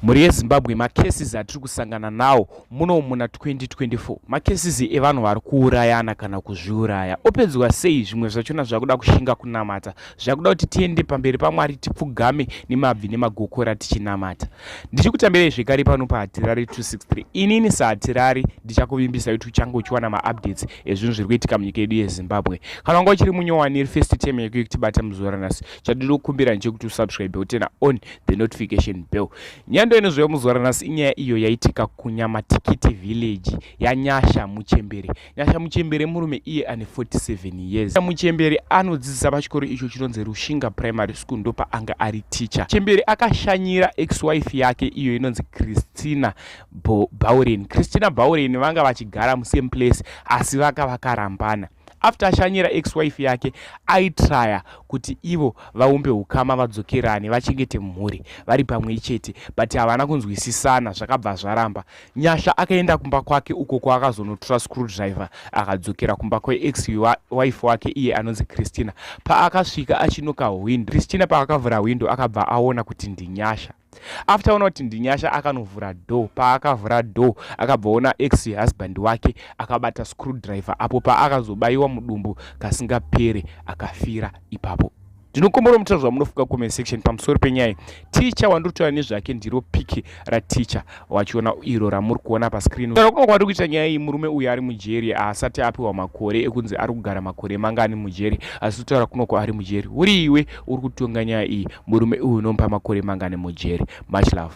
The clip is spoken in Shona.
Mhuri yeZimbabwe, macases atiri kusangana nawo muno muna 2024 macases evanhu vari kuurayana kana kuzviuraya. Opedzwa sei? Zvimwe zvachona zvakuda kushinga kunamata, zvakuda kuti tiende pamberi paMwari tipfugame nemabvi nemagokora tichinamata. Ndichikutambirai zvekare pano paHatirari 263. Inini saHatirari ndichakuvimbisa kuti uchange uchiwana maupdates ezvinhu zviri kuitika munyika yedu yeZimbabwe. Kana wanga uchiri munyowani iri first time yako yekutibata muzuva ranhasi, chatiri kukumbira ndechekuti usubscribe utena on the notification bell nyando inozouya muzuva ranhasi inyaya iyo yaitika kunyamatikiti village yanyasha muchembere nyasha muchembere murume iye ane 47 years muchembere anodzidzisa pachikoro icho chinonzi rushinga primary school ndopaanga ari teacher chembere akashanyira ex wife yake iyo inonzi christina bauren christina bauren vanga vachigara musame place asi vaka vakarambana after ashanyira ex wife yake aitraya kuti ivo vaumbe ukama vadzokerane vachengete mhuri vari pamwe chete but havana kunzwisisana zvakabva zvaramba nyasha akaenda kumba kwake uko kwaakazonotora screw driver akadzokera kumba kweex wife wake iye anonzi christina paakasvika achinoka hwindo christina paakavhura hwindo akabva aona kuti ndinyasha after ona kuti ndinyasha akanovhura door paakavhura door akabvaona ex husband wake akabata screw driver apo paakazobaiwa mudumbu kasingapere akafira ipapo ndinokombora mutira zvamunofunga comment section pamusoro penyaya ticha wandiri kutaura nezvake ndiro piki raticha wachiona iro ramuri kuona pascreen kunonga kwati kuita nyaya iyi murume uyu ari mujeri haasati apiwa makore ekunzi ari kugara makore mangani mujeri asi kutaura kunoko ari mujeri uri iwe uri kutonga nyaya iyi murume uyu unomupa makore mangani mujeri much love